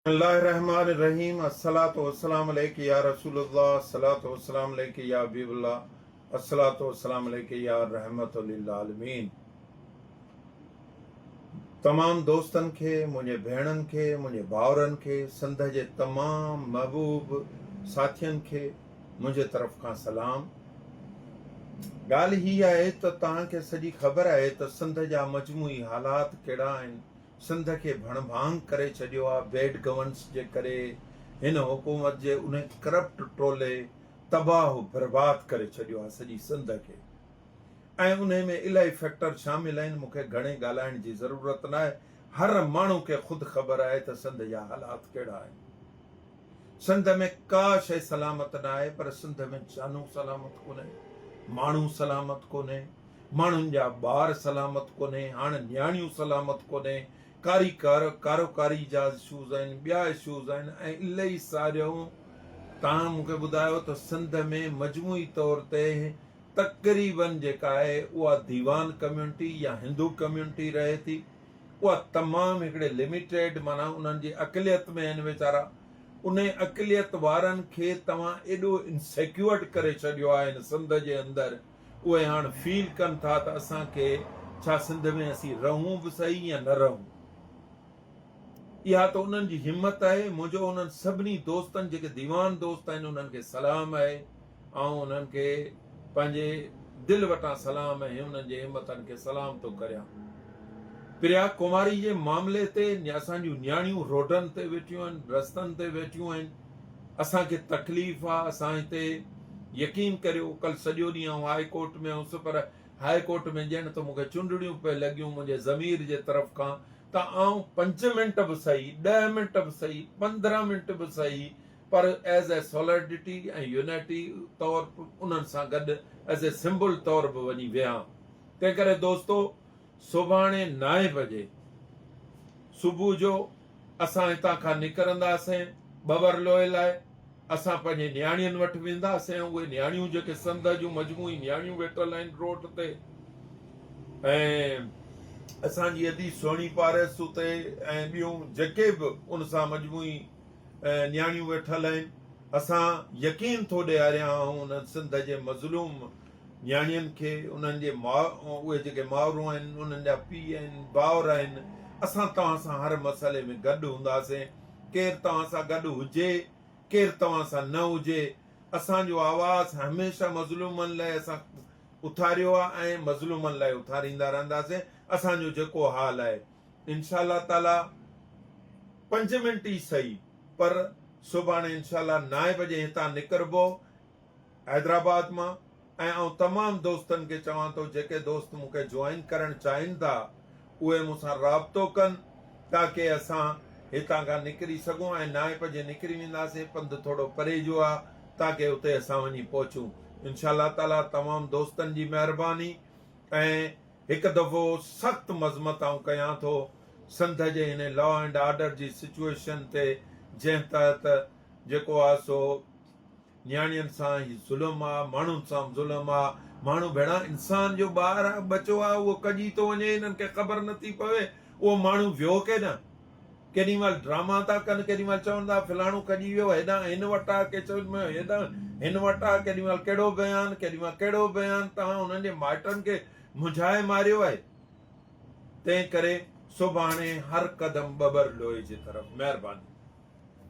بسم الله الرحمن الرحيم الصلوة والسلام عليک يا رسول الله الصلوة والسلام عليک يا حبيب الله الصلوة والسلام عليک يا رحمة للعالمين تمام دوستن کي منهنجي ڀيڻن کي منهنجي ڀائرن کي سنڌ جي تمام محبوب ساٿين کي منهنجي طرف کان سلام ڳالهه هي آهي ته توهان کي سڄي خبر آهي ته سنڌ جا مجموعي حالات ڪهڙا آهن سنڌ کي ڀڻ ڀاڱ ڪري ڇڏيو آ بيڊ گورنس جي ڪري ھن حڪومت جي انھي ڪرپٽ ٽولي تباھ و برباد ڪري ڇڏيو آ سڄي سنڌ کي ۽ انھي ۾ الائي فيڪٽر شامل اھين مون کي گھڻي ڳالھائڻ جي ضرورت ناھي ھر ماڻھو کي خود خبر آھي تھ سنڌ جا حالات ڪھڙا اھين سنڌ ۾ ڪا شئي سلامت ناھي پر سنڌ ۾ جانون سلامت ڪونھين ماڻھو سلامت ڪونھين ماڻهن جا ٻار سلامت ڪونهي، هاڻ نياڻيون سلامت ڪونهي، ڪاري ڪار، ڪاروڪاري جا اشوز آهن، ٻيا اشوز آهن ۽ الائي ساريون تان مون کي ٻڌايو ته سنڌ ۾ مجموعي طور تي تقريبن جيڪا آهي اها ديوان ڪميونٽي يا هندو ڪميونٽي رهي ٿي اها تمام هڪڙي لميٽيڊ معنيٰ انهن جي اقليت ۾ آهن ويچارا انهي اقليت وارن کي توهان ايڏو انسيڪيورڊ ڪري ڇڏيو آهي هن سنڌ جي اندر اهي هاڻ فيل ڪن ٿا ته اسان کي ڇا سنڌ ۾ اسين رهون به صحيح يا نه رهون. اها ته انهن جي همت آهي. منهنجو انهن سڀني دوستن جيڪي ديوان دوست آهن انهن کي سلام آهي. آئون انهن کي پنهنجي دل وٽان سلام ۽ انهن جي همتن کي سلام ٿو ڪريان. پريا ڪماري جي معاملي تي اسان جون نياڻيون روڊن تي ويٺيون آهن، رستن تي ويٺيون آهن. اسان کي تڪليف آ اسان هتي يقين ڪريو ڪل سڄو ڏينهن آئون هائي ڪورٽ ۾ هوس پر هائي ڪورٽ ۾ ڄڻ ته مون کي چنڊڙيون پئي لڳيون منهنجي ضمير جي طرف کان ته آئون پنج منٽ به سهي ڏهه منٽ به سهي پندرهن منٽ به سهي پر ايز اي سولرڊيٽي ۽ يونيٽي طور انهن سان گڏ ايز اي سمبل طور به وڃي ويهان تنهن ڪري دوستو سڀاڻي نائين بجي صبح جو اسان هتان کان نڪرنداسين ٻورلوئي لاء. اسان پنهنجي نياڻين وٽ وينداسين ۽ اهي نياڻيون جيڪي سنڌ جون مجموعي نياڻيون ويٺل آهن روڊ تي ۽ اسان جي ادي سهڻي پارس اتي ۽ ٻيون جيڪي به ان سان مجموعي نياڻيون ويٺل آهن اسان يقين ٿو ڏياريان آئون انهن سنڌ جي مظلوم نياڻين کي انهن جي ماء اهي جيڪي مائرون آهن انهن جا پيء آهن ڀائر آهن اسان توهان سان هر مسئلي ۾ گڏ هونداسين ڪير توهان سان گڏ هجي ڪير توهان سان نه هجي اسان جو آواز هميشه مظلومن لاء اسان اٿاريو آهي ۽ مظلومن لاء اٿاريندا رهنداسين اسان جو جيڪو حال آهي انشاء الله تعالي پنج منٽ ئي سهي پر سڀاڻي انشاء الله نائين بجي هتان نڪربو حيدرآباد مان ۽ آئون تمام دوستن کي چوان ٿو جيڪي دوست مون کي جوائن ڪرڻ چاهين ٿا اهي مون سان رابطو ڪن تاڪه اسان هتان کان نڪري سگهون ۽ نائپ جي نڪري وينداسين پنڌ ٿورو پري جو آ تاڪه اتي اسان وڃي پهچون انشاء الله تعالي تمام دوستن جي مهرباني ۽ هڪ دفعو سخت مذمت آئون ڪيان ٿو سنڌ جي هن لا اينڊ آرڊر جي سچوئيشن تي جنهن تحت جيڪو آ سو نياڻين سان هي ظلم آ، ماڻهن سان به ظلم آ، ماڻهو ڀيڻا انسان جو ٻار آ، ٻچو آ، اهو ڪڄي ٿو وڃي، هنن کي خبر نه ٿي پوي، اهو ماڻهو ويو ڪيڏانهن؟ ڪيڏي مهل ڊراما ٿا ڪن، ڪيڏي مهل چون ٿا فلاڻو ڪڄي ويو، هيڏانهن هن وٽ آ، ڪي چون ٿا هيڏانهن هن وٽ آ، ڪيڏي مهل ڪهڙو بيان، ڪيڏي مهل ڪهڙو بيان، توهان هنن جي مائٽن کي منجهائي ماريو آهي، تنهن ڪري سڀاڻي هر قدم ٻٻر لوئي جي طرف. مهرباني.